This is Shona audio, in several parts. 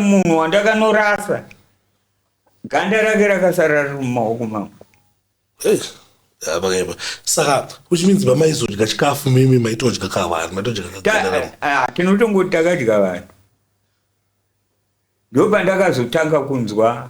munhu wandakanorasa ganda rake rakasara riri mumaoko mangu pakaipa saka which means pamaizodya chikafu mimi maitodya ka vanhu maitodya eh, ah, tinotongoti takadya vanhu ndopandakazotanga kunzwa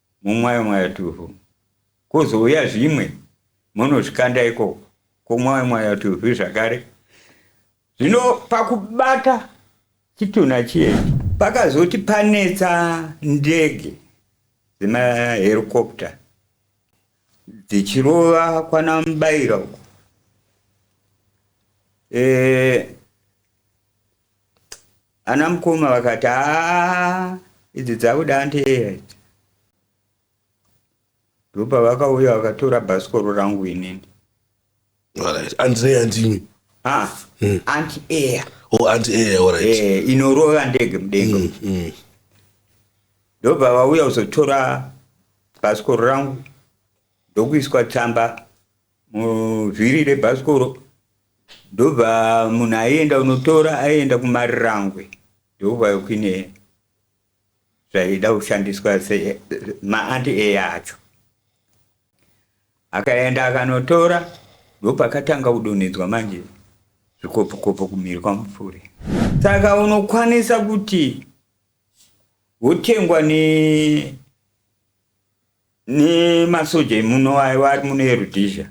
Mumwayo mwayo tuvhu kozouya zvimwe monozvikanda ikoko komwayo mwayo tuvhu zvakare zvino pakubata chitunha chiyechi pakazoti panetsa ndege dzemaherikopta dzichirova kwana mubaira uko e, Ana mukoma vakati haa idzi dzakuda anteeya idzi. Ndopavakauya vakatora bhasikoro rangu inini. Alright. Andreya ndimi. Ah, Hmm. anti air. Oh, anti air, alright. Eh, inorova ndege mudenga. Mm, mm. Ndobva vauya kuzotora bhasikoro rangu ndokuiswa tsamba muvhiri rebhasikoro ndobva munhu aienda unotora aienda kumarirangwe ndobva kuine zvaida kushandiswa maanti eya acho akaenda akanotora ndopakatanga kudonhedzwa manje zvikopokopo kumhiri kwamupfure saka unokwanisa kuti wotengwa ne nemasoja emuno aiwa ari muno erudhizha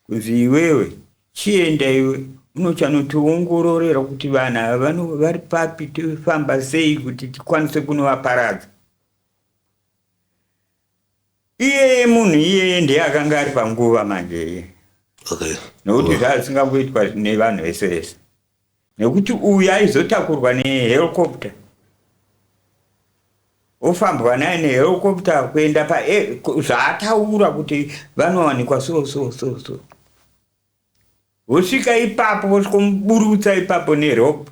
kunzi iwewe chienda iwe unochanotiongororera kuti vanhu ava vari papi tofamba sei kuti tikwanise kunovaparadza iyeye munhu iyeye ndiye akanga ari panguva manje iye okay. nokuti wow. zvazisingangoitwa nevanhu vese vese nekuti uyu aizotakurwa nehelicopter ofambwa naye nehelicopter kuenda pa e, zvaataura kuti vanowanikwa so so so so vosvika ipapo vosvikomuburutsa ipapo nerope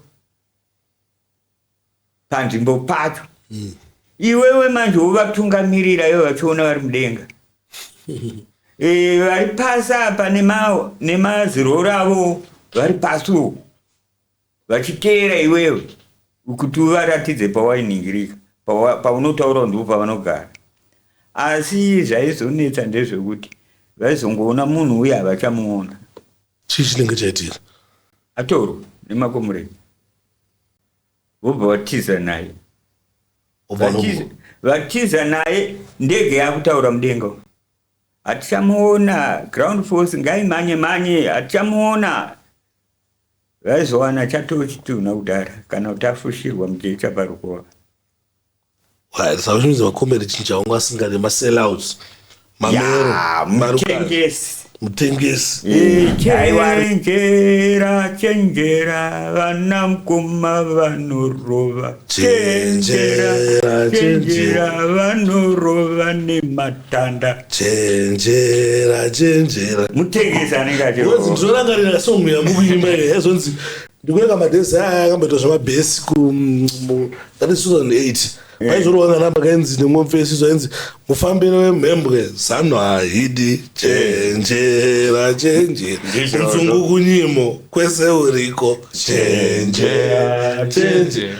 panzvimbo pacho mm. iwewe manje wovatungamirira ivo vachiona vari mudenga e, vari pasi apa nemaziroro avo vari pasi uko vachiteera iwewe kuti uvaratidze pawainingirika paunotaura pa ndipo pavanogara asi zvaizonetsa ndezvekuti vaizongoona munhu uye havachamuona chii chinenge chaitika atorwa nemakomureni vobva vatiza naye vatiza naye ndege yakutaura mudenga hatichamuona ground force ngaimhanye mhanye hatichamuona vaizowana chatochitunha kudhara kana kuti afushirwa mujecha parukova Saizvizvi makomere chinhu chaunga asinga nema sellouts mamero mutengesi mutengesi chenjera chenjera vana mkoma vanorova chenjera chenjera vanorova nematanda chenjera chenjera mutengesi anenge achirovaozizorangarira songo yamukuimba iye yazonzi ndikuyenga madhezi aya akamboita zvemabhesi ku mm, mu- that is 2008 vaizorova nganamba kainzi nemwopfe isizo ainzi mufambiro wemhembwe zano haidi chenjera chenjera Ndizvo, kunzungu kunyimo kwese uriko chenjera chenjera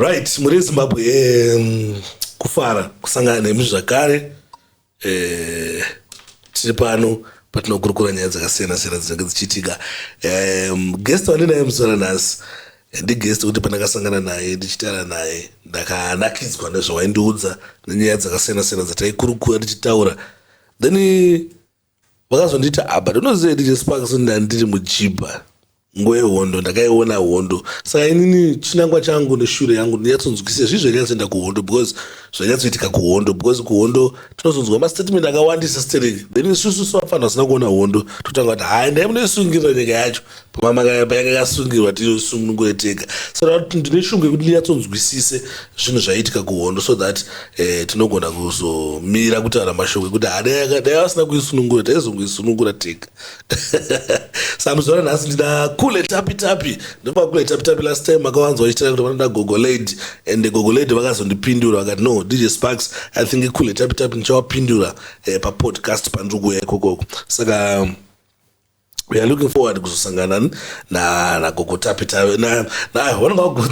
right muri zimbabwe um, kufara kusangana nemi zvakare eh, tiri pano patinokurukura nyaya dzakasiyana siyana dzinenge dzichiitika um, guest wandinaye musora nhasi ndigest kuti pandakasangana naye ndichitaura naye ndakanakidzwa nezvawaindiudza nenyaya dzakasiyana siyana dzataikurukura tichitaura then vakazondiita apa ah, ndinoziva ndichesparks ndandiri muchiba Nguva yehondo ndakaiona hondo saka inini chinangwa changu neshure yangu ndinyatsonzwisisa zvii zvanyatsoenda kuhondo because zvanyatsoitika kuhondo because kuhondo tinozonzwa mastatement akawandisa sterek then isusu sevafanhu vasina kuona hondo totanga kuti haya ndai munoisungirira nyika yacho pamamakayapa yanga yakasungirwa tiyosunungure tega saka kuti ndine shungu yekuti ndinyatsonzwisise zvinhu zvaiitika kuhondo so that eh, tinogona kuzomira kutaura mashoko ekuti hadai vasina kuisunungura taizongoisunungura tega samuzora nhasi ndina kule tapi tapi ndopa kule tapi tapi last time makawanzwa ichitaura kuti vanoda gogo lady and gogo lady vakazondipindura vakati no dj sparks i think kule tapi tapi ndichawapindura eh, papodcast pandiri kuuya ikokoko saka um, we are looking forward kuzosangana na na gogo tapi tapi na na i wanna go good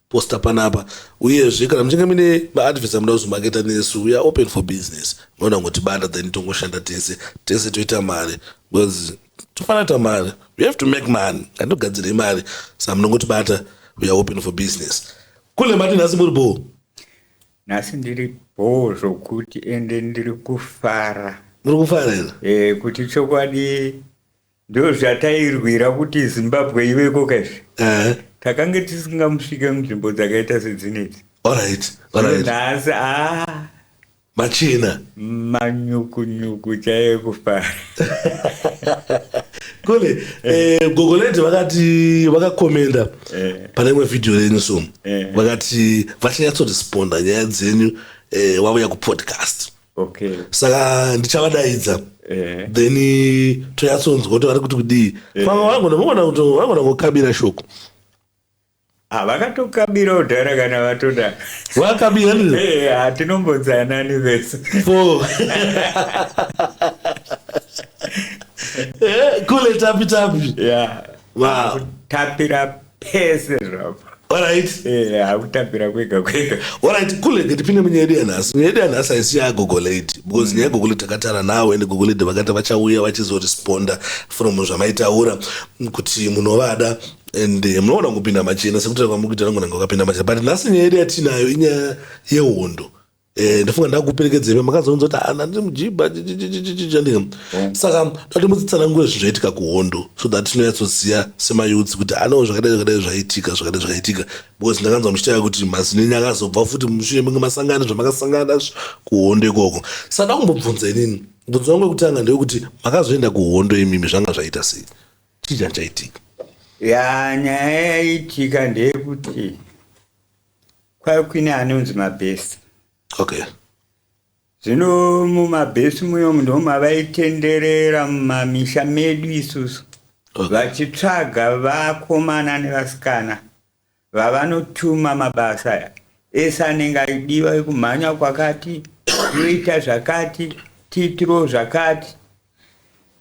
poster panapa uyezve kana muchinge mine maadvesa muda kuzomaketa nesu weare open for business maona kungotibanda then tongoshanda tese tese toita mari because tofanira ta mari we have to make money andogadzirei mari sa munongotibata weare open for business kule mati nhasi muri boo nhasi ndiri boo zvokuti ende ndiri kufara muri kufara here e, kuti chokwadi Ndozvatairwira kuti Zimbabwe ive ikoka izvi. Eh. Takange tisingamusvike munzvimbo dzakaita sedzinedzi. All right. All right. Nhasi ah machina manyukunyuku chaiye kufara kule eh, gogoleti vakati vakakomenda eh. pane imwe vhidhiyo renyu so eh. vakati vachanyatsoresponda nyaya dzenyu eh, wauya kupodcast okay. saka ndichavadaidza eh. then tonyatsonzwa kuti vari kuti kudii eh. pamwe vangonavagona kuti vagona kukabira shoko ah, vakatokabira kudhara kana vatoda vakabira eh, hatinombonzanani vese kule tapi tapi tapira pese zvapa Alright. Eh, akutambira kwega kwega. Alright, kule ke tipinde munyaya yedu yanhasi. Nyaya yedu yanhasi haisi yagogo lady because nyaya yegogo lady takatara nawo and gogo lady vakati vachauya vachizoresponda from zvamaitaura kuti munovada and eh, munoona kupinda machena sekutaura kwamuri kuita nangu nanga wakapinda machena but nhasi nyaya yedu yatinayo inyaya yehondo Eh, ndofunga ndakuperekedza imi makazounza kuti ana ndiri mujiba chandika mm. saka dati mudzitsanangure zvinhu zvaitika kuhondo so that tinonyatsoziva semayudzi kuti anewo zvakadai zvakadai zvaitika zvakadai zvakaitika because ndakanzwa muchitaura kuti mazinini akazobva futi mushure menge masangana zvamakasangana kuhondo ikoko saka ndakumbobvunza inini mubvunzo wangu wekutanga ndewekuti makazoenda kuhondo imimi zvanga zvaita sei chii changa chaitika ya nyaya yaitika ndeyekuti Kwai kune anonzi mabhesi. Okay. Zvino mumabhesi muyomu ndimo mavaitenderera mumamisha medu isusu okay. vachitsvaga vakomana nevasikana vavanotuma mabasa aya ese anenge aidiwa ekumhanya kwakati toita zvakati tiitiro zvakati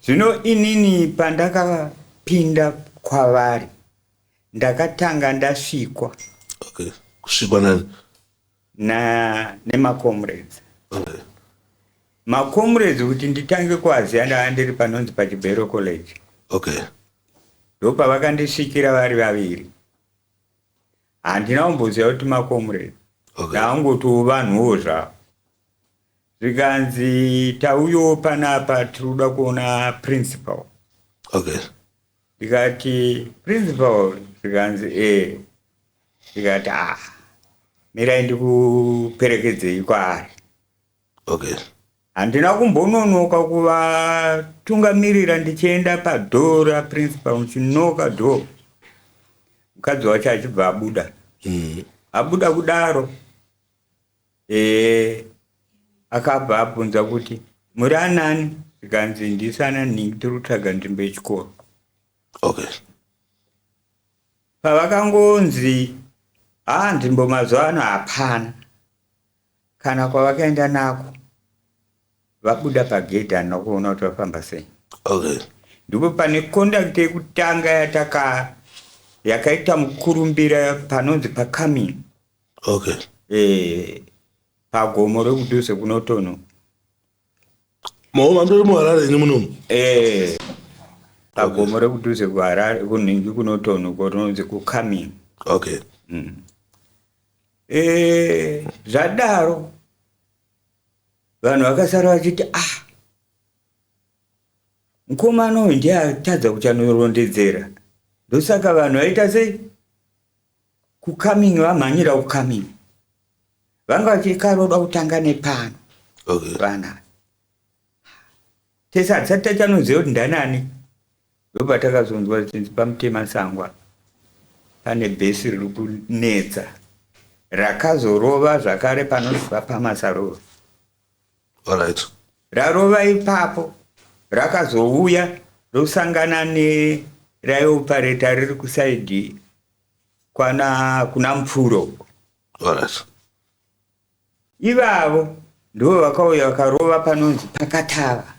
zvino inini pandakapinda kwavari ndakatanga ndasvikwa okay kusvikwa nani na nemacomrades okay. macomrades kuti nditange kuaziva ndava ndiri panonzi pachibhero college okay ndopavakandisvikira vari vaviri handina kumboziva kuti macomrades okay. ndaangoti uvanhuwo zvavo zvikanzi tauyo panapa tiri kuda kuona principal okay ndikati principal zvikanzi ee ndikati ah mirai ndikuperekedzei kwaari okay handina kumbononoka kuvatungamirira ndichienda padhoo raprincipal ndichinoka dhoo mukadzi wacho achibva abuda mm. abuda kudaro Eh, akabva abvunza kuti muri anani zvikanzi ndisana nhingi tiri kutsvaga nzvimbo yechikoro okay pavakangonzi haa nzvimbo mazuva ano hapana kana kwavakaenda nako vabuda pagedhi hana kuona kuti vafamba sei okay ndipo pane kondakiti yekutanga yataka yakaita mukurumbira panonzi pacoming okay eh pagomo rekudhuze kunotono maoma ndiri muharare ini munomu eh pagomo rekudhuze kuharare kunhingi kunotono korinonzi kucoming okay mm. eh zvadaro vanhu vakasara vachiti ah mukomana uyu ndiye atadza kuchanorondedzera ndosaka vanhu vaita sei Ku coming vamhanyira ku coming. Vanga vachiri karoda kutanga nepano. Okay. Vana. Tesa hatisati tachanoziva kuti ndanani. Ndoba takazonzwa zvinzi pamutema sangwa. Pane bhesi riri kunetsa. Rakazorova zvakare panozova pamasarova. Alright. Rarova ipapo rakazouya rosangana neraiopareta riri kusaidhi kwana kuna mupfuro uko Alright. ivavo ndivo vakauya vakarova panonzi pakatava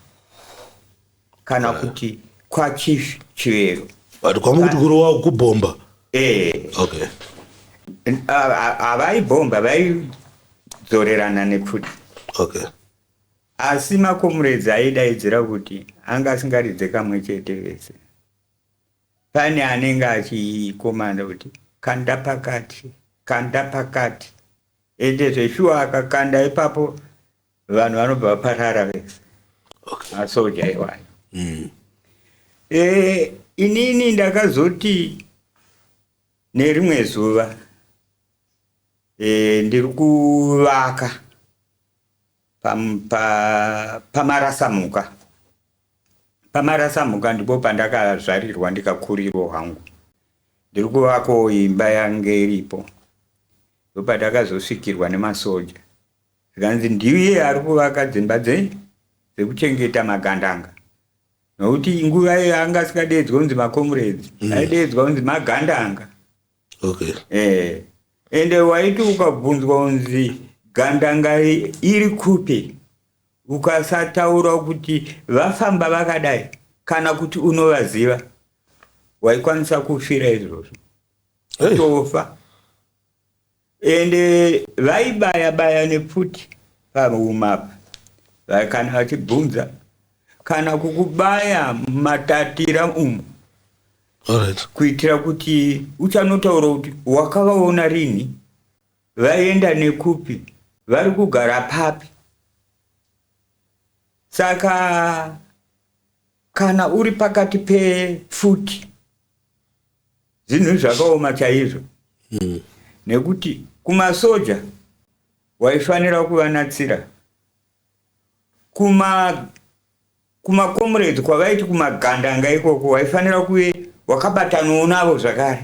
kana kuti kwachief chivero but kwamukuti kurowa kubhomba eh okay havaibhomba vaidzorerana nepfuti okay asi makomuredzi aidaidzira kuti anga asingaridze kamwe chete vese pane anenge achikomanda kuti kanda pakati kanda pakati ende zveshuwa akakanda ipapo vanhu vanobva vaparara vese okay. masoja iwayo mm. e, inini ndakazoti nerimwe zuva e, ndiri kuvaka pamarasamuka pa, pa pamarasamuka ndipo pandakazvarirwa ndikakurirwo hangu ndiri kuvakawo imba yange iripo ndopandakazosvikirwa nemasoja Zvikanzi ndiye ari kuvaka dzimba dze dzekuchengeta magandanga nokuti nguva iyo anga asikadeedzwa kunzi macomrades mm. aideedzwa kunzi magandanga okay. eh, ende waiti ukabvunzwa kunzi gandanga iri kupi ukasataura kuti vafamba vakadai kana kuti unovaziva waikwanisa kufira izvozvo utofa hey. Ende vaibaya baya nepfuti paroom apa va- kana vachibvunza kana kukubaya matatira umu Alright. kuitira kuti uchanotaura kuti wakavaona rini vaenda nekupi vari kugara papi saka Kana uri pakati pepfuti zvinhu zvakaoma chaizvo hmm. nekuti kumasoja waifanira kuvanatsira kuma kumakomrades kwavaiti kumagandanga ikoko waifanira kuve wakabatanawo navo zvakare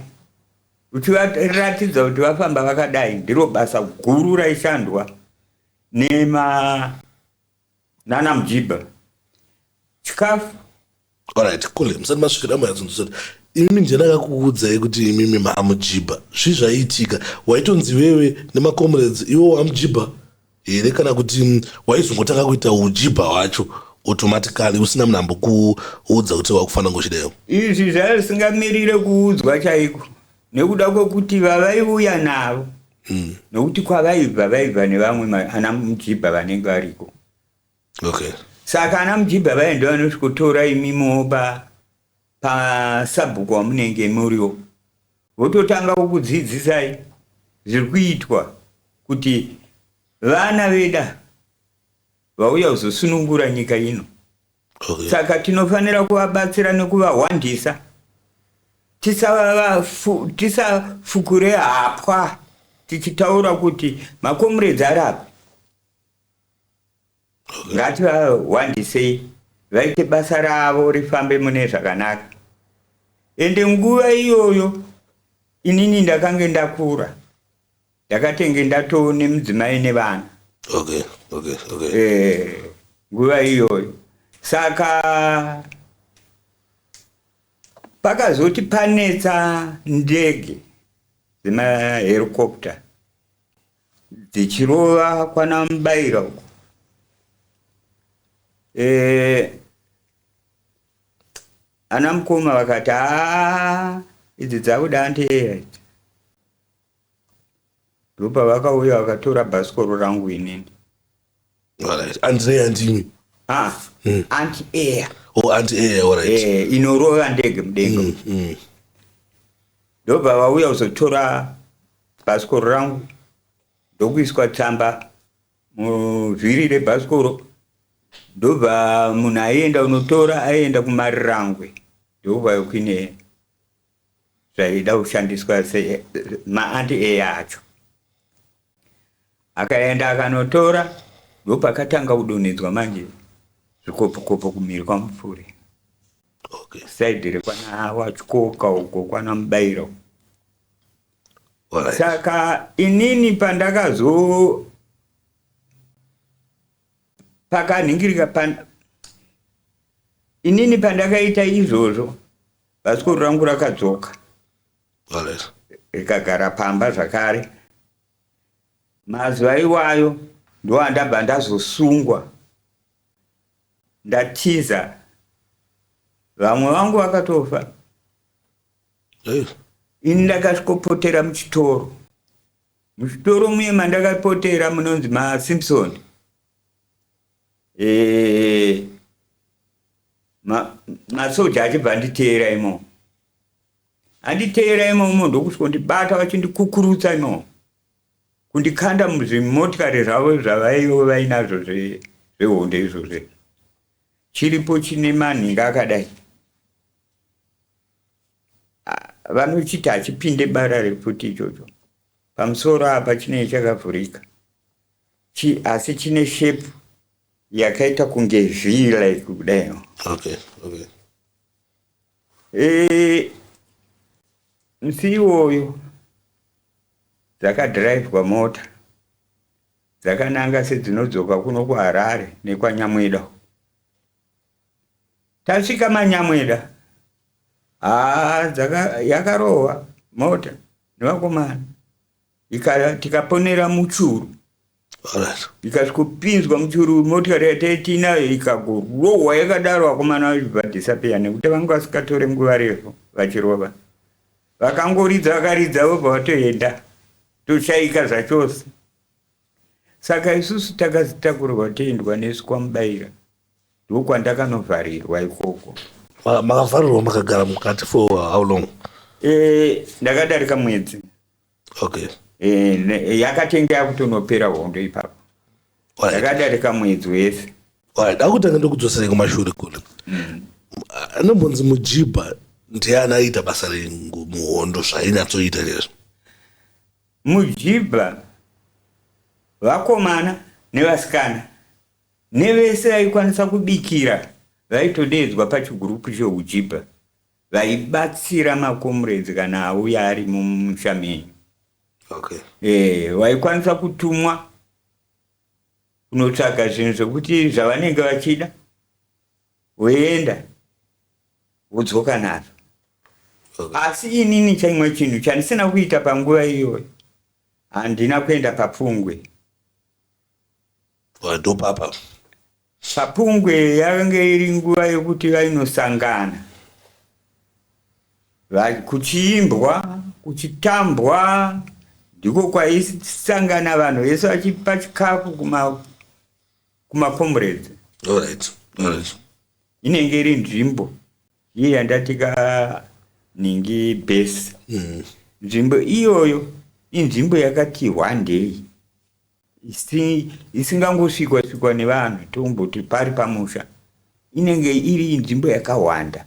uchivaratidza kuti vafamba vakadai ndiro basa guru raishandwa nema nana mjiba chikafu orit kule musati masvikira muyadzunzusati imimi ndiyandakakuudzai kuti imimi maamujibha zvi zvaiitika waitonzi iwewe nemacomrades iwo wamujibha here kana kuti mm, waizongotanga kuita ujibha hwacho automatically usina munhu ambokuudza kuti wakufanira ngochideyo izvi zvaisingamirire kuudzwa chaiko nekuda kwekuti vavaiuya navo mm. nokuti kwavaibva vaibva nevamwe ana mujibha vanenge variko okay. saka ana mujibha vaenda vanosvikotora imimo pa pasabhuku wamunenge muriwo vototanga kukudzidzisai zviri kuitwa kuti vana veda vauya kuzosunungura nyika ino okay. saka tinofanira kuvabatsira nekuvahwandisa tisafukure tisa hapwa tichitaura kuti makomuredzi ari apa okay. ngativahwandisei vaite basa ravo rifambe mune zvakanaka ende nguva iyoyo inini ndakange ndakura Ndakatenge ndatoo nemudzimai nevana. Okay, okay, okay. Eh, nguva iyoyo. Saka pakazoti panetsa ndege dzemaherikopta dzichirova kwana mubaira uko e, ana mukoma vakati haa idzi dzakuda anteera idzi ndopavakauya vakatora bhasikoro rangu inini Alright. Andrei andimi. ah Mm. anti air Oh, anti air, alright. eh inorova ndege mudenga Mm, mm. ndobva vauya kuzotora bhasikoro rangu ndokuiswa tsamba muvhiri rebhasikoro ndobva munhu aienda unotora aienda kumarirangwe ndokubva yokuine zvaida kushandiswa maanti eya acho akaenda akanotora ndopakatanga kudonhedzwa manje zvikopokopo kumhiri kwamupfuri okay. saidi rekwana wachikoka uko kwana mubairo right. saka inini pandakazo pakanhingirika pan... inini pandakaita izvozvo Bhasikoro rangu rakadzoka rikagara pamba zvakare. Mazuva iwayo ndoandabva ndazosungwa ndatiza vamwe vangu vakatofa ini ndakasvikopotera muchitoro muchitoro muye mandakapotera munonzi masimpson Eh, ma, masoja achibva anditeera imo anditeera imo imo ndokusvika kundibata vachindikukurutsa imo kundikanda muzvimotikari zvavo zvavaive vainazvo zvehonde izvozvo chiripo chine manhinga akadai vanochiti hachipinde bara refuti ichocho pamusoro apa chinei chakavhurika Chi, asi chine shape yakaita kunge v like kudai okay okay e, musi iwoyo dzakadhiraivhwa mota dzakananga sedzinodzoka kuno kuharare nekwanyamweda tasvika manyamweda haa ah, yakarohwa mota nevakomana Ika- tikaponera muchuru Alright. ikasvikopinzwa muchuru motikari yataitiinayo ikagorohwa yakadaro vakomana vachibva disappear nekuti vanga vasikatore nguva refu vachirova vakangoridza vakaridza vobva vatoenda toshaika zvachose saka isusu takazitakurirwa toendwa nesu kwamubayira ndokwandakanovharirwa ikoko Ma- makavharirwa makagara mukati for how long Eh, ndakadarika mwedzi okay eh, yakatenge yakutonopera hondo ipapo yakadarika mwedzi wese ndakutanga ndokudzoserei kumashure kule mm. anombonzi mujibha ndiye anaiita basa rengu muhondo zvainyatsoita nezvo mujibha vakomana nevasikana nevese vaikwanisa kubikira vaitodeedzwa pachigurupu cheujibha vaibatsira makomuredzi kana auya ari mumusha menyu okay. e, waikwanisa kutumwa kunotsvaga zvinhu zvekuti zvavanenge vachida woenda wodzoka nazvo okay. asi inini chaimwe chinhu chandisina kuita panguva iyoyo handina kuenda papfungwe ndopapa Papungwe yakange iri nguva yekuti vainosangana kuchiimbwa kuchitambwa ndiko kwaisangana vanhu vese vachipa chikafu kumacomrades inenge iri nzvimbo iye yandatika ningi base mm. nzvimbo iyoyo inzvimbo yakati hwandei isingangosvikwa svikwa nevanhu tomboti pari pamusha inenge iri nzvimbo yakawanda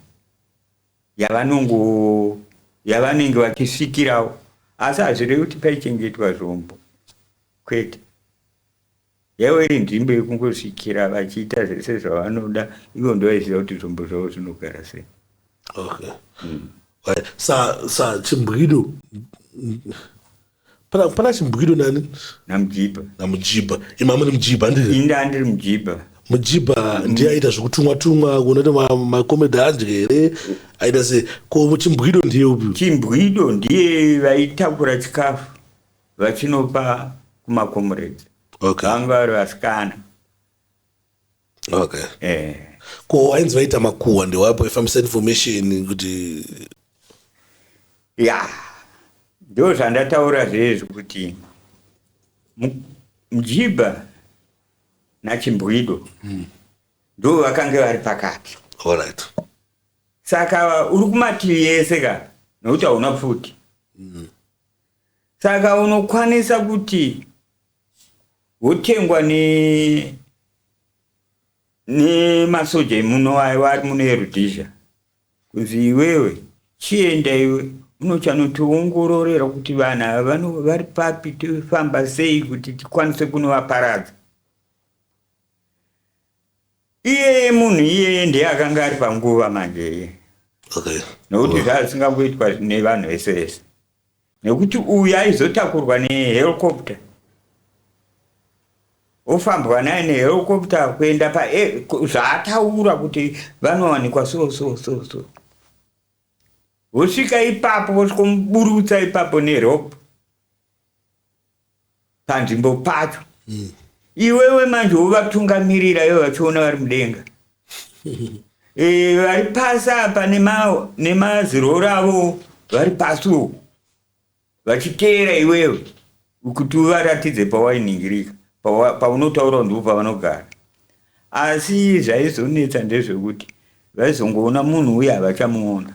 yavanongo yavanenge vachisvikirawo asi hazvirevi kuti paichengetwa zvombo kwete yaiva iri nzvimbo yekungosvikira vachiita zvese zvavanoda ivo ndovaiziva kuti zvombo zvavo zvinogara sei okay. mm. sa, sa chimbwido Pana pana chimbwido nani? NaMujibha. NaMujibha. Imi amuri Mujibha ndiri? Ini ndandiri Mujibha. Mujibha mm. ndiye aita zvekutumwa tumwa kuona kuti makomedi adye here aita se ko chimbwido ndiye upi? Chimbwido ndiye vaitakura chikafu vachinopa kumakomuredzi. Okay. Vanga vari vasikana. okay eh ko wainzi vaita makuhwa ndewapo aifambisa information kuti ya ndo zvandataura zvezvo kuti mu- mjiba nachimbwido ndo vakange vari pakati alright saka uri kumativi ese ka nokuti hauna pfuti saka unokwanisa kuti hotengwa ne nemasoja emuno ayo ari muno eRhodesia kunzi iwewe chienda iwe unochanotiongororera kuti vanhu ava vano vari papi tofamba sei kuti tikwanise kunovaparadza iyeye munhu iyeye ndiye akanga ari panguva manje iye okay. nokuti oh. zvaasingangoitwa nevanhu vese vese nekuti uyu aizotakurwa nehelicopter ofambwa naye nehelicopter kuenda pa zvaataura kuti vanowanikwa so so so so vosvika ipapo vosvikomuburutsa ipapo nerope panzvimbo pacho mm. iwewe manje wovatungamirira ivo vachiona vari mudenga e, vari pasi apa nemaziroro avo vari pasi uku vachiteera iwewe kuti uvaratidze pawainingirika paunotaura pa ndipo pavanogara asi zvaizonetsa ndezvekuti vaizongoona munhu uye havachamuona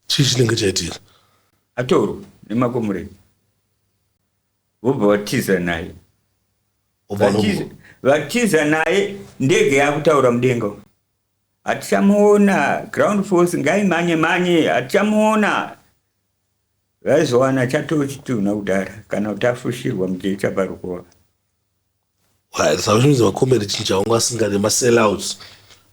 chii chinenge chaitika atorwa nemakomureni vobva vatiza naye vatiza naye ndege yakutaura mudenga hatichamuona ground force ngaimanye manye hatichamuona vaizowana chatochitunha kudhara kana kuti afushirwa mujecha parukova zvaizvinzi makomere chinhu chaunga asingade masellouts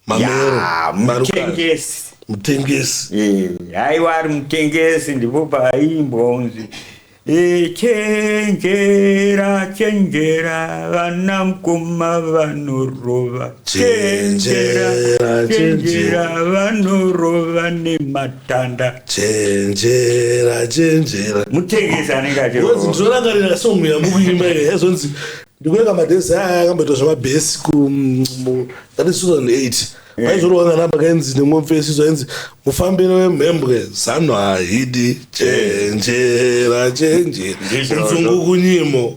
mameromutengesi mutengesi eh, aiwa ari mutengesi ndipo paaimbwa unzi eh, chenjera chenjera vana mukoma vanorova chenjera chenjera vanorova nematanda chenjera chenjera mutengesi anenge achirorangarira song yamukuimba iyo yaizonzi ndikueka madhesi aya akamboitwa zvemabhesi ku that is 2008 vaizorowana namba kainzi nemwomfesiso ainzi mufambiro wemhembwe zano hahidi chenjera chenjera kunzungu kunyimo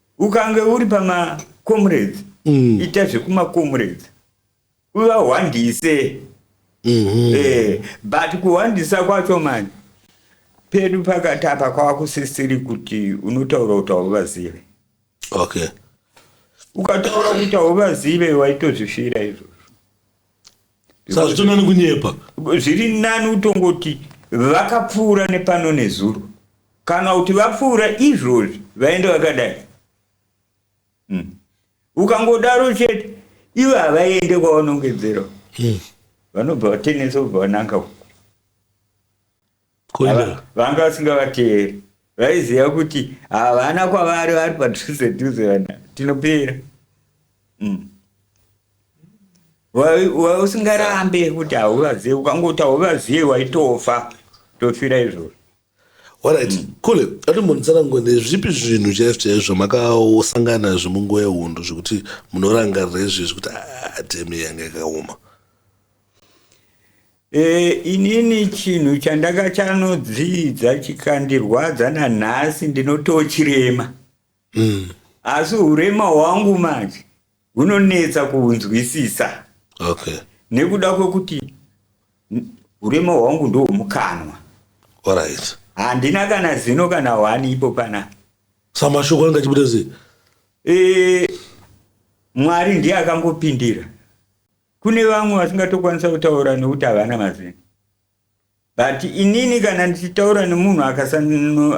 ukange uri pamacomrades mm. ita zvekumacomrades uvahwandise mm -hmm. eh, but kuhwandisa kwacho mani pedu pakati apa kwava kusisiri kuti unotaura kuti hauvazive okay ukataura kuti hauvazive waitozvifira izvozvo saka zvitonani kunyepa zviri nani utongoti vakapfuura nepano nezuro kana kuti vapfuura izvozvi vaende vakadai hmm. ukangodaro chete ivo havaende kwavanongedzera hmm. vanobva vatenesa ubva vananga uku vanga vasingavateeri vaiziva kuti havana kwavari vari padhuze dhuze vana tinopera mm. usingarambe kuti hauvazive ukangoti hauvazive waitofa tofira izvozvo orit mm. kule atombonitsana ngo nezvipi zvinhu chaizvo chaizvo makasangana nazvo munguva yehondo zvekuti munorangarira izvezvi kuti atemi ah, yanga yakaoma E, inini chinhu chandakachanodzidza chikandirwadza nanhasi ndinotochirema mm. asi urema hwangu manje hunonetsa kuhunzwisisa okay. nekuda kwekuti urema hwangu ndohwomukanwa right. handina kana zino kana wani ipo pana samashoko anga achibuda sei e, mwari ndiye akangopindira Kune vamwe vasingatokwanisa kutaura nekuti havana mazino but inini kana ndichitaura nemunhu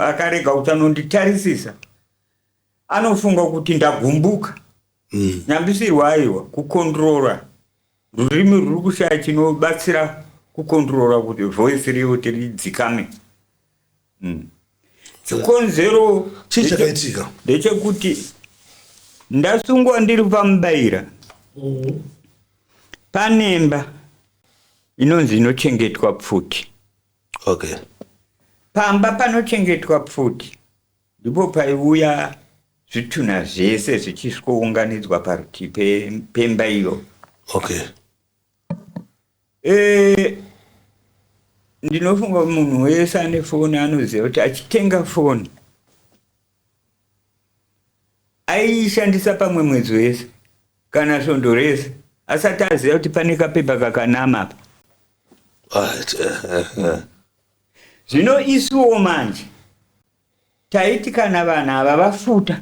akarega kuti anonditarisisa anofunga kuti ndagumbuka mm. nyambisirwa aiwa kukondrora rurimi ruri kushaya chinobatsira kukondrora kuti voice riyo kuti ridzikame mm. chikonzero chii chakaitika ndechekuti ndasungwa ndiri pamubaira mm. panemba inonzi inochengetwa pfuti okay pamba panochengetwa pfuti ndipo paiuya zvitunha zvese zvichisvikounganidzwa parutivi pemba iyo okay Eh, ndinofunga munhu wese ane foni anoziva kuti achitenga foni aishandisa pamwe mwedzi wese kana svondo rese asati aziva kuti pane kapepa kakanama apa What? zvino isuwo manje taiti kana vanhu ava vafuta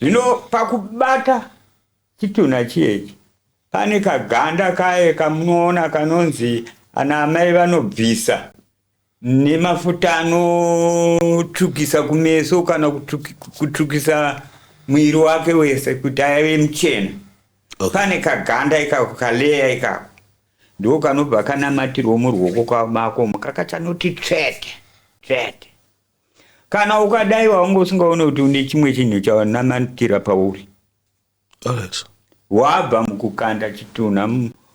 Zvino pakubata chitunha chiyechi pane kaganda kaye kamunoona kanonzi ana amai vanobvisa nemafuta anotsvukisa kumeso kana kutsvukisa mwiri wake wese kuti aive muchena okay. pane kaganda ikako kaleya ikako ndiko kanobva kanamatirwo muruoko kwamako mukakachanoti tsvete tsvete kana ukadai wanga usingaone kuti une chimwe chinhu chaunamatira pauri wabva mukukanda chitunha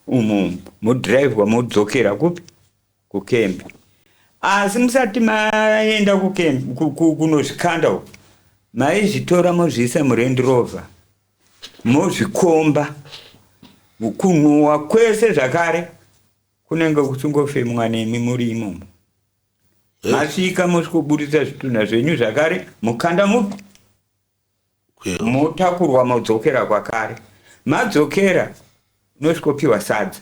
umu mudhiraivhwa modzokera kupi kukembi asi musati maenda kukembi kunozvikanda uku maizvitora mozviisa murendi rover mozvikomba mukunhuwa kwese zvakare kunenge kusingofemwa nemi muri imomo masvika mosvikoburitsa zvitunha zvenyu zvakare mukanda mupi motakurwa modzokera kwakare madzokera unosvikopiwa sadza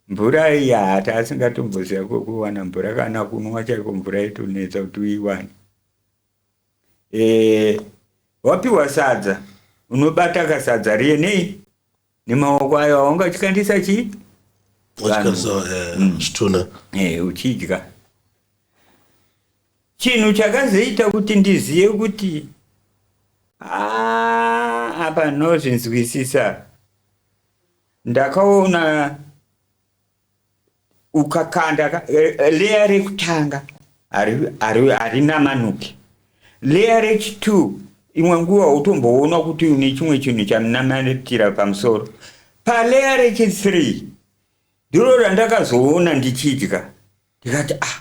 mvura yata asingatomboziva kwokuwana mvura kana kunwa chaiko mvura yetonetsa kuti uiwane e, wapiwa sadza unobata kasadza riye nei nemaoko ayo awanga uchikandisa chii zvitunha eh, eh, uchidya chinhu chakazoita kuti ndizive kuti ah, apa nozvinzwisisa ndakaona ukakanda ka- eh, eh, leya rekutanga hari- hari- harina manuke leya rechitu imwe nguva utomboona kuti une chimwe chinhu chamunamatira pamusoro paleya rechithree ndiro randakazoona ndichidya ndikati ah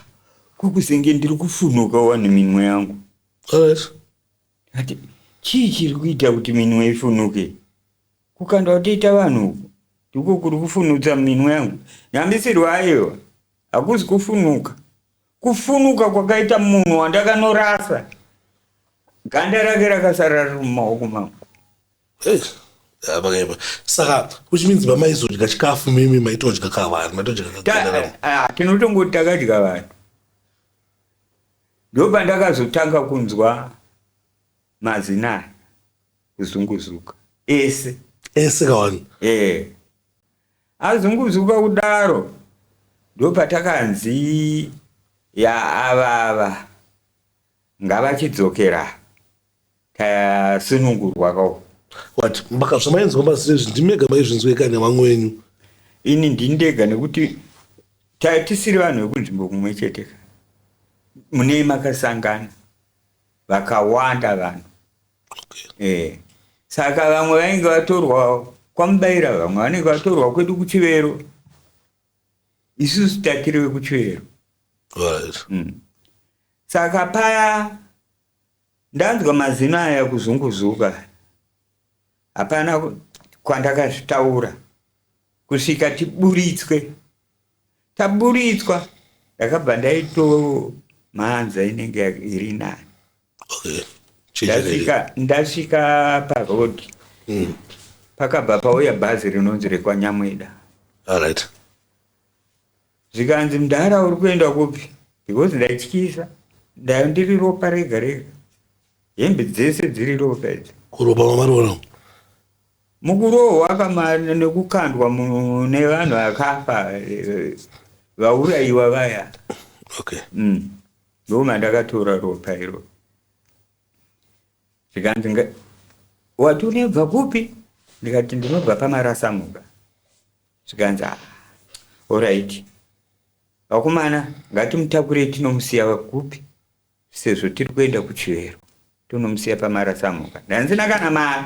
kokuzenge ndiri kufunuka wani minwe yangu Yes. ndikati chii chiri kuita kuti minwe ifunuke Kukandwa kutoita vanhu uku ndiko kuri kufunudza minwe yangu nyambisirwa ayewa hakuzi kufunuka kufunuka kwakaita munhu wandakanorasa ganda rake rakasara riri mumaoko mangu hey. vakaipa saka which means vamaizodya chikafu mimi maitodya ka vanhu maitodya eh, ah, tinotongoti takadya vanhu ndopandakazotanga kunzwa Mazina aya kuzunguzuka ese. Ese kawani. Eh. Azunguzuka kudaro ndopatakanzi ya avava ngavachidzokera tasunungurwa kawo. What? Mbaka zvamainzwa mazina izvi ndimega maizvinzwa ikanya vamwe wenyu. Ini ndindega nekuti tatisiri vanhu vekunzvimbo kumwe chete ka. Munei makasangana. vakawanda vanhu okay. e, saka vamwe vainge vatorwa kwamubaira vamwe vanenge vatorwa kwedu kuchivero isusu tatiri vekuchivero right. mm. saka paya ndanzwa mazino aya kuzunguzuka hapana kwandakazvitaura kusvika tiburitswe taburitswa ndakabva ndaitomhanza inenge iri nani okay. ndasvika, ndasvika paroad mm. pakabva pauya bhazi rinonzi rekwanyamweda right. zvikanzi mdhara uri kuenda kupi because ndaityisa ndayo ndiri ropa rega rega hembe dzese dziri ropa idzi kuropa mamarona Mukurohwa kamari nekukandwa nevanhu vakafa vauraiwa vaya. Okay. Mm. Ndoo mandakatora ropa iro. Zvikanzi nga wati unebva kupi? Ndikati ndinobva pamarasamuka. Zvikanzi ah. All right. Vakomana ngatimutakure tinomusiya kupi? Sezvo tiri kuenda kuchivero tonomusiya pamarasamhuka ndanzina kana mari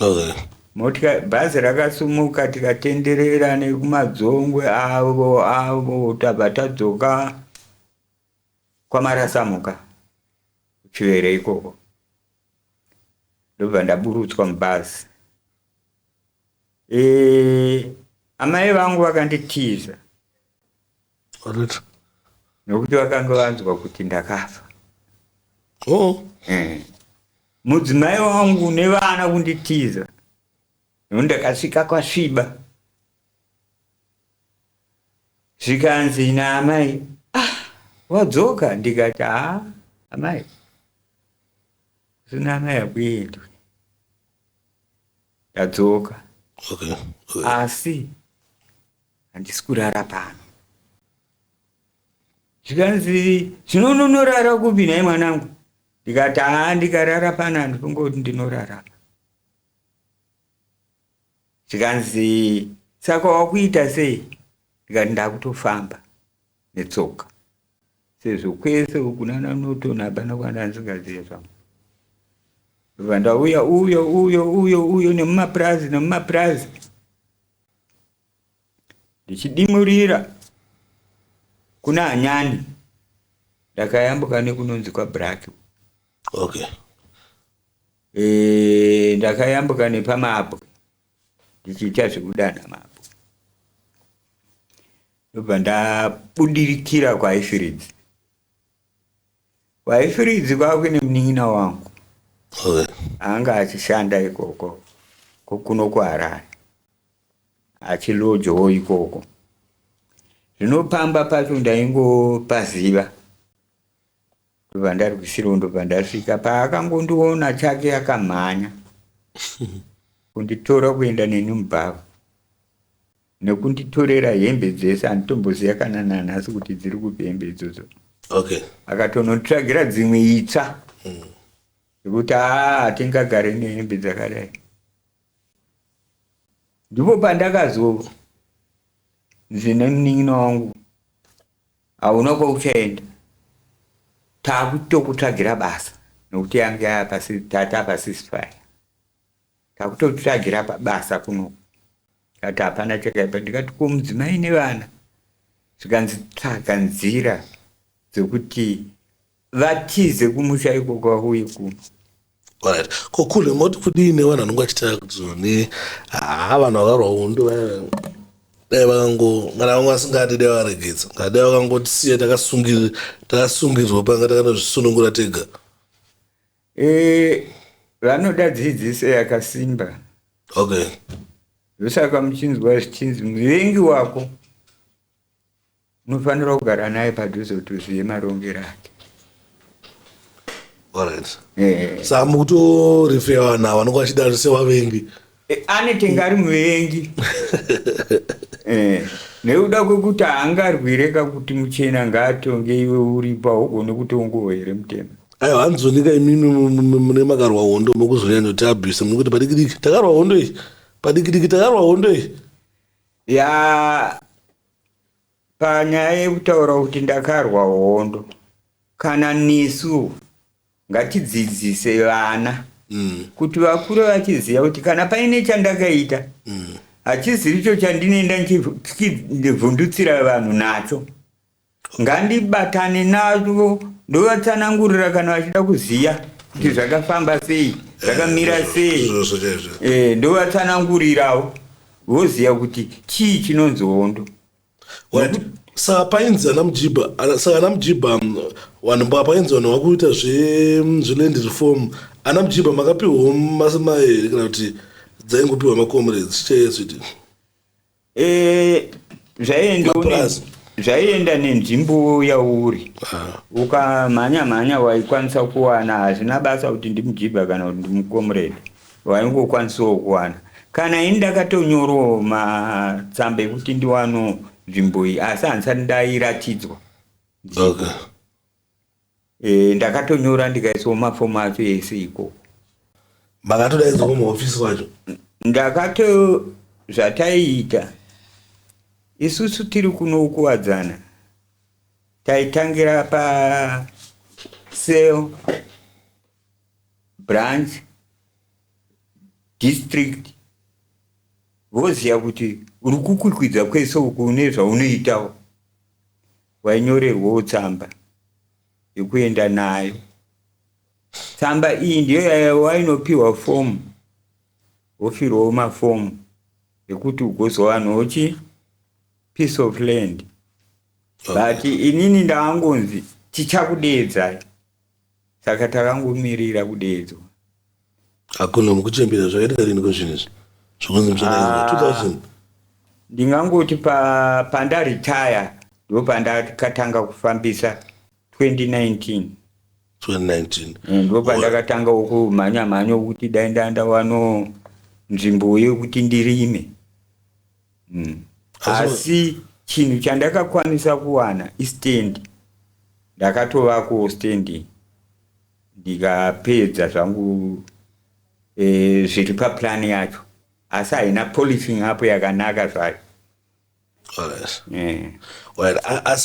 okay. motika bhazi rakasumuka tikatenderera nekumadzongwe avo avo tabva tadzoka kwamarasamhuka kuchivero ikoko ndobva ndaburutswa mubhazi e, amai vangu vakanditiza Correct. Nokuti vakanga vanzwa kuti ndakafa. Oh. Eh. Mudzimai wangu nevana kunditiza. Nokuti ndakasvika kwasviba. Zvikanzi naamai, ah, wadzoka ndikati, ah, amai. Zvino amai hakuendwi. Ndadzoka. Okay. okay. Asi handisi kurara pano. Zvikanzi zvino unonorara kupi nhai mwanangu? Ndikati haa ndikarara pano handikungoti ndinorara. Zvikanzi saka wakuita sei? Ndikati ndakutofamba netsoka. sezvo kwese kunana norton hapana kwana ndisingazive zvangu ndobva ndauya uyo uyo uyo uyo nemumapurazi nemumapurazi ndichidimurira kuna anyani ndakayambuka nekunonzi kwabrak okay Eh, ndakayambuka nepamabwe ndichiita zvekudana mabwe Ndobva ndabudikira kwaifiridzi kwaifiridzi kwakuine munin'ina wangu okay. anga achishanda ikoko kokuno kuharare achilojowo ikoko zvinopamba pacho ndaingopaziva ndobva ndari kusiro ndobva ndasvika paakangondiona chake akamhanya kunditora kuenda neni mubhava Nekunditorera hembe dzese handitomboziva kana nanhasi kuti dziri kupi hembe idzodzo. Okay. Akatononditsvagira dzimwe itsva. Mm. Zvekuti haa hatingagare nehembe dzakadai. Ndipo pandakazonzi nemunin'ina wangu hauna kwauchaenda. Takutokutsvagira basa nekuti yange yava pasisi tata pasisi faya. takutotsvagira pabasa kuno kati hapana chakaipa ndikati ko mudzimai nevana zvikanzi tsvaga nzira dzekuti vatize kumusha ikoko vauye kuno right ko kule moti kudii nevanhu anenge achitaya kuti zone haa vanhu vakarwa hundu dai vakango kana vanga vasingadi dai varegedza kana dai vakangotisiya takasungirwa panga takanozvisunungura tega Eh, vanoda dzidziso yakasimba. Okay. Ndosaka muchinzwa zvichinzi muvengi wako unofanira kugara naye padhuze kuti uzive marongero ake. Alright. Eh. Saka mukutorefewa nawo vanonga vachida sevavengi. Eh, anete ngari muvengi eh, nekuda kwekuti haangarwire kakuti muchena ngaatonge iwe uripo haugone kutongowa here mutema ayo handizonika imimi mune makarwa hondo mokuzonyanya kuti abuse mukuti padikidiki takarwa hondo iyi padikidiki takarwa hondo iyi ya panyaya yekutaura kuti ndakarwa hondo kana nesu ngatidzidzise vana mm. kuti vakure vachiziva kuti kana paine chandakaita mm. hachiziricho chandinoenda ndichivhundutsira vanhu nacho ngandibatane nazvo ndovatsanangurira kana vachida kuziva kuti zvakafamba sei zvakamira eh, sei eh, ndovatsanangurirawo voziva kuti chii chinonzi hondo saka painzi ana mujiba saka ana mujiba mm, vanhu painzi vanhu vakuita mm, zveland reform ana mujiba makapiwa masima here kana kuti dzaingopiwa macomrades chaiesiti eh, zvaienda nenzvimbo yauri ah. ukamhanya mhanya waikwanisa kuwana hazvina basa kuti ndimujiba kana kuti ndimcomrade vaingokwanisawo kuwana kana ini ndakatonyorowo matsamba ekuti ndiwano nzvimbo iyi asi handisati ndairatidzwa okay. e, ndakatonyora ndikaisawo mafomu acho ese ikoko makatodaidzwa kumahofisi kwacho ndakato zvataiita isusu tiri kunokuwadzana taitangira pa sel branch district voziva kuti uri kukwikwidza kwese uku une zvaunoitawo wainyorerwawo tsamba yekuenda nayo tsamba iyi ndiyo wainopiwa fomu wofirwawo mafomu ekuti ugozowanawo chi piece of land but inini ndaangonzi tichakudeedzai Saka takangomirira kudeedzwa. Hakuna mukuchembera zvakaita riniko zvinhu izvi zvokunzi muchadainga 2000 ndingangoti pa- pandaretire ndopandakatanga kufambisa 2019 2019 Eh, ndopandakatangawo kumhanya mhanya kuti dai ndanda wano nzvimbo yekuti ndirime mm. asi chinhu chandakakwanisa kuwana istand ndakatovako stand ndikapedza zvangu e, zviri paplan yacho asi haina policing apo yakanaka zvayo eh.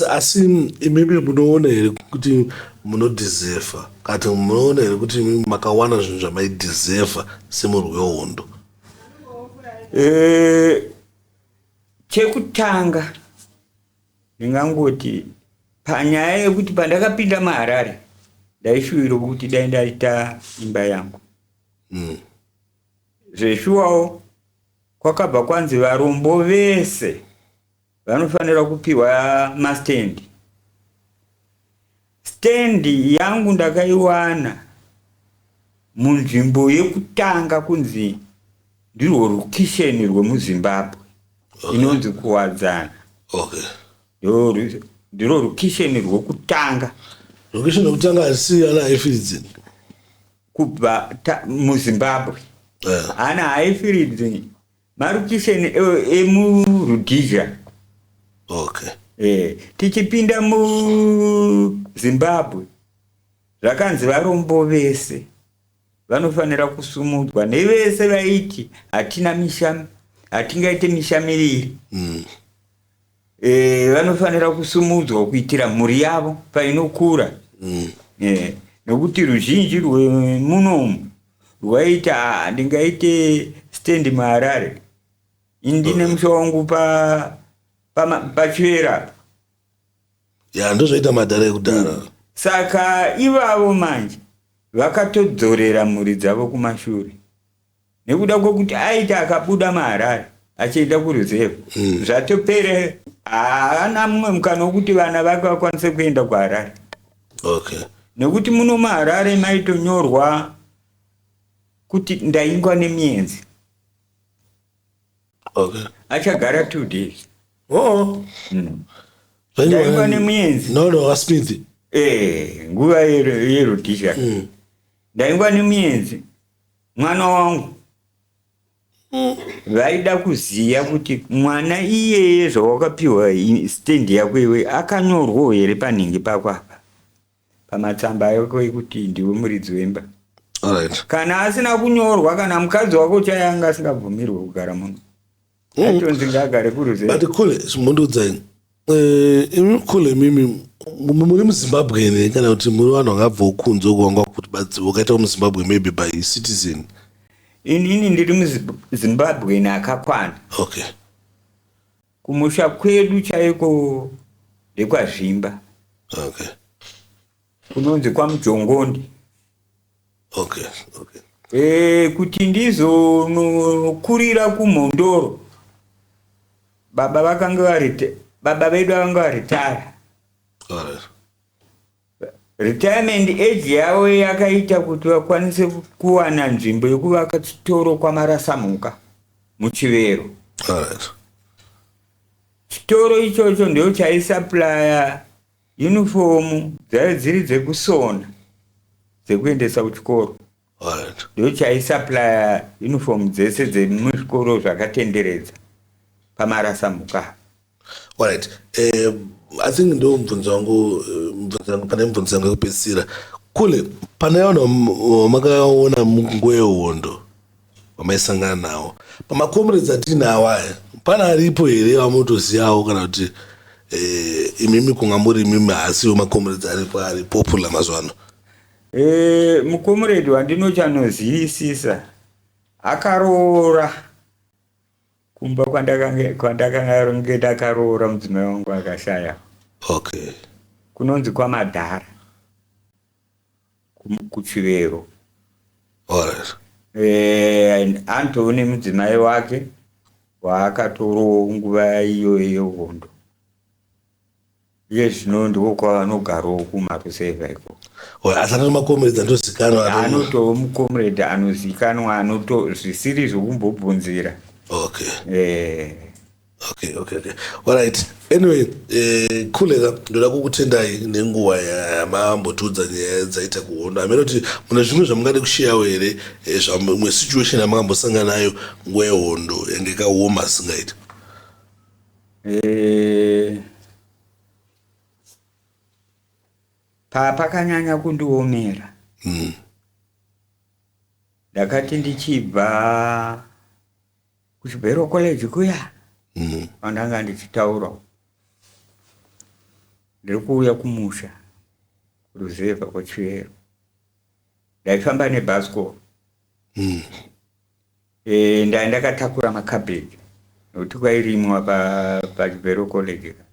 asi imibi munoona here kuti munodhizefa kati munoona here kuti makawana zvinhu zvamaidhizefa semurwi wehondo Eh, chekutanga ndingangoti panyaya yekuti pandakapinda maharare ndaishuwira kuti dai ndaita imba yangu mm. zveshuwawo kwakabva kwanzi varombo vese vanofanira kupiwa mastand stand yangu ndakaiwana munzvimbo yekutanga kunzi ndirwo rukisheni rwemuzimbabwe inonzi kuwadzana okay Ndiro ru- ndiro rukisheni rwokutanga location yokutanga haisiyana haifiridzi kubva ta- muzimbabwe Eh, ana haifiridzi Marukisheni emuRhodesia. Okay. Eh, tichipinda muZimbabwe zvakanzi varombo vese vanofanira kusumudzwa nevese vaiti hatina mishami hatingaite mishamiriri mm. e, vanofanira kusumudzwa kuitira mhuri yavo painokura mm. e, nokuti ruzhinji rwemunomu rwaita ah, ndingaite stendi muharare indine oh. musha wangu pachivera pa, pa ya ndozvaita madhara ekudhara mm. saka ivavo manje vakatodzorera mhuri dzavo kumashure nekuda kwekuti aita akabuda maharare achienda kuruzevha mm. zvatopere haana mumwe mukana wekuti vana vake vakwanise kuenda kuharare okay. nekuti muno maharare maitonyorwa kuti ndaingwa nemienzi okay. achagara two days oh. mm. ndaingwa nemienzi no, no, eh, nguva yerutisha mm. ndaingwa nemienzi mwana wangu vaida kuziva kuti mwana iyeye zvawakapiwa stand yako iwe akanyorwawo here panhingi pako apa pamatsamba yako ekuti ndiwe muridzi wemba right. kana asina kunyorwa kana mukadzi wako chaianga asingabvumirwe kugara muno aitonzi ngaagare kuruze but kule mundiudzai eh, imi kule mimi muri muzimbabwe here kana kuti muri vanhu vakabvawo kunze kuvanga kuti badzivo ukaitawo muzimbabwe maybe by citizen inini ndiri muzimbabweni akakwana okay kumusha kwedu chaiko ndekwazvimba okay kunonzi kwamujongondi okay, okay. E, kuti ndizokurira kumhondoro baba vakange varita baba vedu vakange varitara retirement age yavo yakaita kuti vakwanise kuwana nzvimbo yekuvaka chitoro kwamarasamhuka muchivero chitoro ichocho ndochaisaplaya Yunifomu dzaive dziri dzekusona dzekuendesa kuchikoro. Alright. Ndochaisupplier uniform dzese dzemuzvikoro zvakatenderedza pamarasa mhuka. Alright. Eh, I think ndo mubvunzo wangu eh, mubvunzo yangu pane mubvunzo yangu yekupedzisira. Kule pane vanhu vam- vamakaona munguva yehondo vamaisangana nawo pamacomrades atiinawo aya pana aripo here vamotozivawo kana kuti eh, imimi kunga muri imimi haasiwo macomrades aripo ari popular mazuva ano eh, mucomrade wandinochanozivisisa akaroora kumba kwandakange ndakaroora mudzimai wangu akashaya okay kunonzi kwamadhara Ku- kuchivero Alright. Eh, and anto une mudzimai wake waakatorowo nguva iyoyo yehondo iye zvino ndiko kwaanogarowo kumarusevha iko Well, asi anoti makomeredzi andozikanwa anoti- anotowo mucomrade anozikanwa anoto zvisiri zvokumbobvunzira okay Eh, okay okay okay alright anyway eh, khuleka ndoda kukutendai nenguva yamambotiudza nyaya dzaita kuhondo hameno kuti mune zvimwe zvamungade kusheyawo here eh, zvamwe situation yamangambosangana nayo nguva yehondo yange kaoma singaiti eh, pakanyanya kundiomera hmm. ndakati ndichibva kuchibhero college kuya mm. andanga ndichitaura ndiri kuuya kumusha ruzevha kwachivero ndaifamba nebhasikoro mm. e, eh, ndai ndakatakura makabeji nokuti kwairimwa pachibhero pa college ka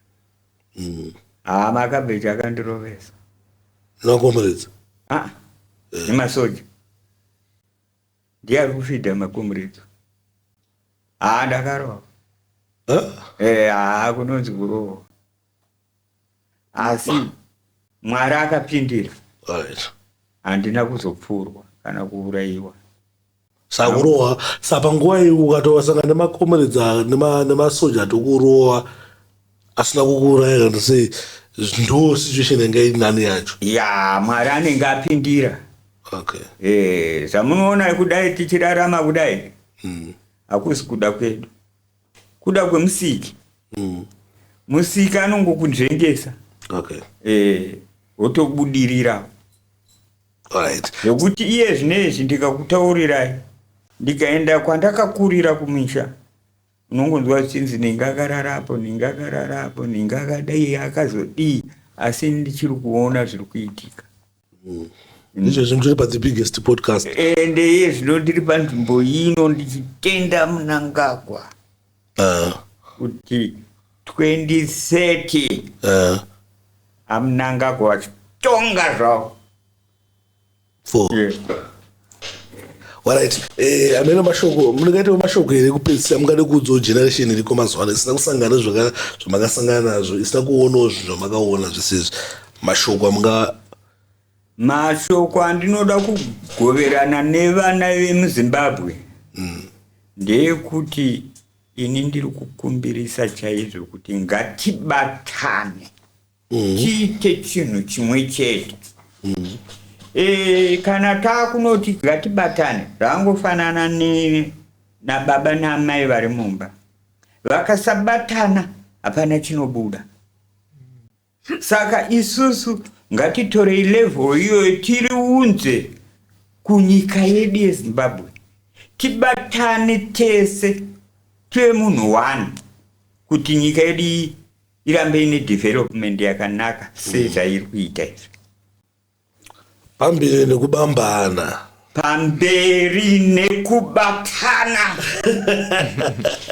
mm. haa ah, makabeji akandirovesa nokomredza ah, eh. nemasoja ndiye ari kufidha makomureki haa ndakarohwa eh, haa kunonzi kurohwa asi mwari akapindira handina kuzopfurwa kana kuurayiwa sakurohwa sapanguva iyi ukatosangana nemakomeredza nemasoja tokurohwa asina kukuuraya kana sei ndo situation yanga iri nani yacho ya mwari anenge apindira okay eh zvamunoona kudai tichirarama kudai mm. hakusi kuda kwedu kuda kwemusiki mm. musiki anongokunzvengesa okay eh wotobudirira right zvekuti iye zvinezvi ndikakutaurirai ndikaenda kwandakakurira kumisha unongonzwa zvichinzi nenge akarara apo nenge akarara apo nenge akadai akazodii asi ndichiri kuona zviri kuitika mm. ndizvo zvinhu zviri padzi biggest podcast ende eh, iye zvino ndiri panzvimbo ino ndichitenda munangagwa ah. kuti 2030 amunangagwa ah. vachitonga zvavo four warit eh, amene mashoko munengaitawo mashoko here kupedzisa mungade kuudzawo generation iriko mazuva ano isina kusangana zvamakasangana nazvo isina kuonawo zvinhu zvamakaona zvese izvi mashoko amunga mashoko andinoda kugoverana nevana vemuzimbabwe mm. ndeyekuti ini ndiri kukumbirisa chaizvo kuti ngatibatane mm. tiite chinhu chimwe chete mm. e, kana taakunoti ngatibatane zvaangofanana ne nababa naamai vari mumba vakasabatana hapana chinobuda saka isusu ngatitorei level iyoyo tiriunze kunyika yedu yezimbabwe tibatane tese tive munhu one kuti nyika yedu iyi irambe ine development yakanaka sezvairi kuita izvi pamberi nekubambana pamberi nekubatana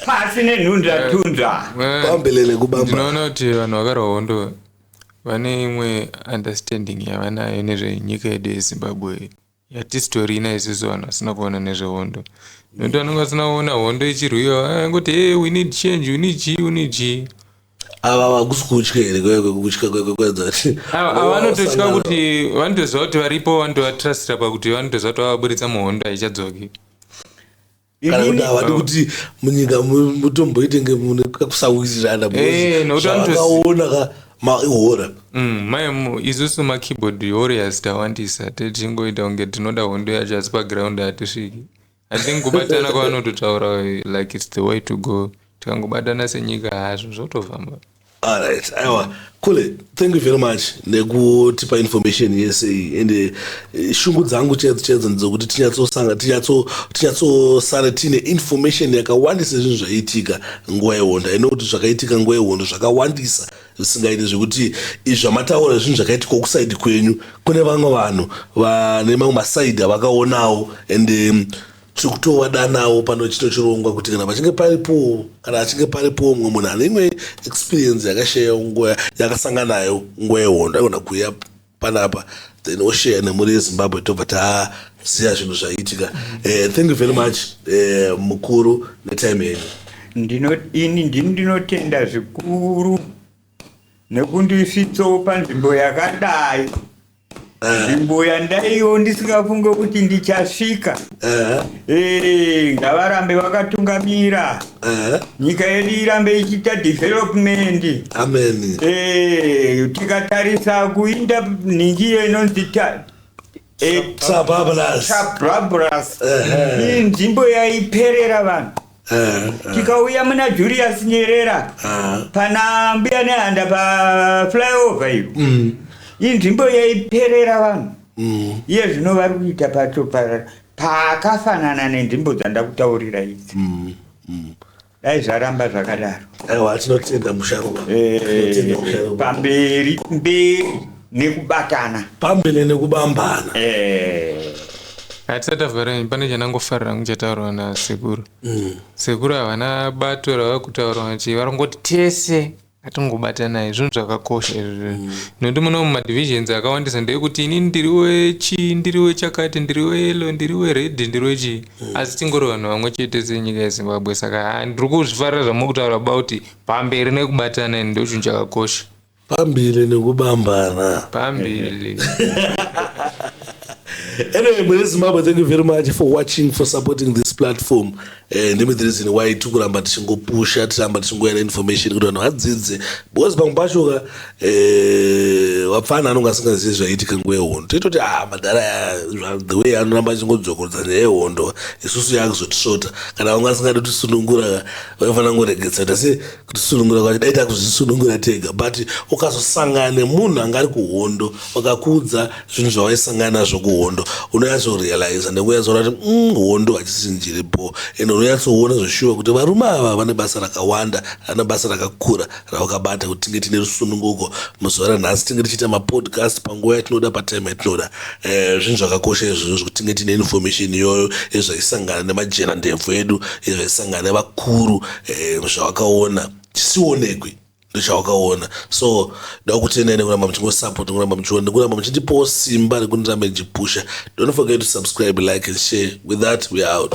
pasi nenhunzvatunzva pamberi nekubambana ndinoona kuti vanhu vakarwa hondo vane imwe understanding yavanayo nezvenyika yedu yezimbabwe ya tistori ina isusu vanhu vasina kuona nezvehondo nokuti vanenge vasina kuona hondo ichirwiwa eh, kuti hey, we need change we need g we need g ava vakusi kutya here kutya kwekuenzavanototya kuti vanotoziva kuti varipo vanotovatrustira pakuti vanotoziva kuti vavaburitsa muhondo haichadzoki kana kuti havadi kuti munyika mu- mutomboite nge mune kakusawirirana Eh, nokuti vanotozi- zvakaona ka mahora Mm, mai mu- isusu makeyboard warriors tawandisa tichingoita kunge tinoda hondo yacho asi paground hatisviki i think kubatana kwavanototaura like its the way to go tikangobatana senyika hazvo zvotofamba Alright, aiwa Kule, thank you very much nekutipa information yese iyi and eh, shungu dzangu chaidzo chaidzo ndedzokuti tinyatsosanga tinyatsosara tiine information yakawandisa zvinhu zvaiitika nguva yehondo aino kuti zvakaitika nguva yehondo zvakawandisa zvisingaiti zvekuti izvamataura zvinhu zvakaitika kusaidi kwenyu kune vamwe vanhu vane mamwe masaidi avakaonawo and um, tiri kutovadanawo pano chito chirongwa kuti kana pachinge paripowo kana achinge paripowo mumwe munhu ane imwe experience yakashayawo nguva yakasanga nayo nguva yehondo aigona kuuya panapa then osheya nemuri yezimbabwe tobva taziva zvinhu zvaiitika eh, thank you very much eh, mukuru netime yenyu ini ndini ndinotenda zvikuru nekundisvitsawo panzvimbo yakadai nzvimbo yandaiwo ndisingafunge kuti ndichasvika Eh, ngavarambe vakatungamira nyika yedu irambe ichiita development ameni Eh, tikatarisa kuinda nhingi iyo inonzi ta- eh, sabablas Chabrabras Ehe. inzvimbo yaiperera vanhu tikauya muna julius nyerera pana mbuya nehanda paflyover iyo mm. inzvimbo yaiperera vanhu mm. iye zvino vari kuita pacho pakafanana nenzvimbo dzandakutaurira idzi mm, dai zvaramba zvakadaro aiwa tinotenda musharuwa eh, pamberi mberi nekubatana pambene nekubambana eh. hatisati tavhara nyaya pane chandangofarira hangu chataurwa nasekuru mm. sekuru havana bato ravava kutaura vachi varongoti tese atingobatanai zvinhu zvakakosha izvozvo mm. nokuti muno mumadivisions akawandisa ndeyekuti ini ndiri wechi ndiri wechakati ndiri weyelo ndiri wered ndiri wechii mm. asi tingori vanhu vamwe chete senyika yezimbabwe saka ndiri kuzvifarira zvamuri kutaura about pamberi nekubatana ini ndochinhu chakakosha Pambili nekubambana. Pambili. anyway, Mune Zimbabwe, thank you very much for watching, for supporting this platform. Eh, ndimi the reason why tikuramba tichingopusha, tiramba tichingoyana information kuti vanhu vadzidze. Because pamwe pacho ka eh, wapfana anonga asingazivi zvaiitika nguva yehondo. Toitoti ah madhara aya the way anoramba achingodzokorodza nyaya yehondo isusu yakuzotisvota. Kana vanga asingadi tisunungura ka vaifanira kungoregedza kuti asi kutisunungura kwacho dai takuzvisunungura tega but ukazosangana nemunhu anga ari kuhondo vakakuudza zvinhu zvavaisangana nazvo kuhondo unonyatsorealiza nekunyatsoona kuti mm, hondo hachisi njiri bho and unonyatsoona zveshuwa kuti varume ava vane basa rakawanda ana basa rakakura ravakabata kuti tinge tine rusununguko muzuva ranhasi tinge tichiita mapodcast panguva yatinoda patime yatinoda eh, zvinhu zvakakosha izvozvo zvekuti tinge tine information iyoyo ezvaisangana nemajena ndebvu edu ezvaisangana nevakuru eh, zvawakaona chisionekwi ndichawakaona so ndakutendai nekuramba muchingosapot nekuramba muchiona nekuramba muchindipawo simba rekundiramba ndichipusha don't forget to subscribe like and share with that we are out